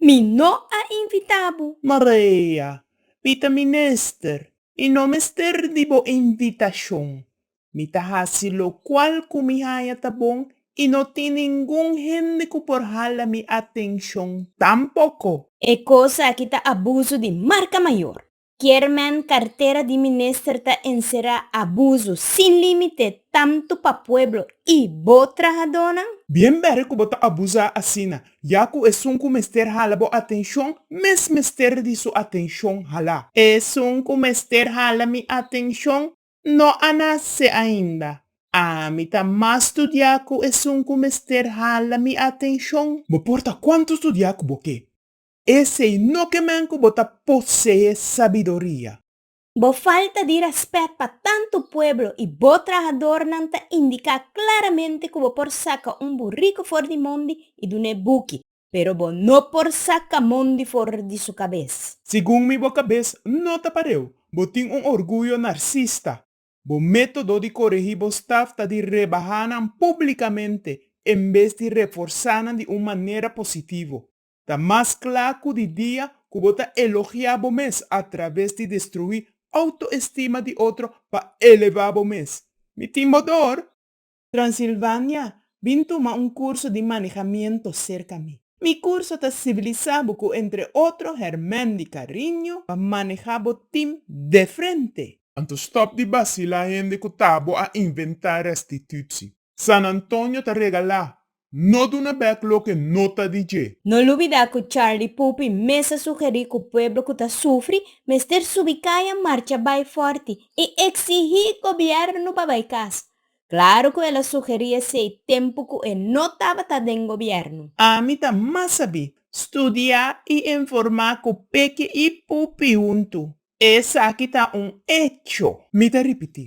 Mi no a invita bo. Maria, Mi ta minister y no mester di bo invitacion. Mi ta haci locual cu mi haya ta bon y no tin ningun hende cu por hala mi atencion tampoco. E cos aki ta abuso di marca mayor. Chairman Cartera di Minister ta encera abuso sin limite tanto pa pueblo y bo trahadornan? Bien bere cu bo ta abusa asina, ya cu esun cu mester hala bo atencion mes mester di su atencion hala. Esun cu mester hala mi atencion no a nace ainda. Ami ta mas studia cu esun cu mester hala mi atencion. Bo por ta cuanto studia cu bo ke. Esei no ke men ku bo ta poseé sabiduria. Bo falta di rèspèt pa tantu pueblo i bo trahadornan ta indiká klaramente ku bo por saka un buriku for di mondi i dun'é buki, pero bo no por saka mondi for di su kabes. Segun mi bo kabes no ta pareu. Bo tin un orguyo narsista. Bo método di koregí bo staf ta di rebahá nan públikamente en bes di reforsá nan di un manera positivo. Ta mas cla cu di dia cu bo ta elogia bo mes a traves di destrui autoestima di otro pa eleva bo mes. Mi tin bo dor. Transilvania, bin tuma un curso di manejamiento cerca mi. Mi curso ta sibilisa bo cu entre otro hermen di cariño pa maneja bo team de frente. Anto stop di bacila hende cu tabo a inventa restitutie. San Antonio ta regala No duna bek loke no ta di dje. No lubidá ku Charlie Pupi mes a sugerí ku pueblo ku ta sufri mester subi kaya marcha bai fòrti i eksigí gobièrnu pa bai kas. Klaru ku el a sugerí esei tempu ku e no tabata den gobièrnu. Ami ta mas sabí studiá i informá ku Peke i Pupi huntu. Esaki ta un echo. Mi ta ripití.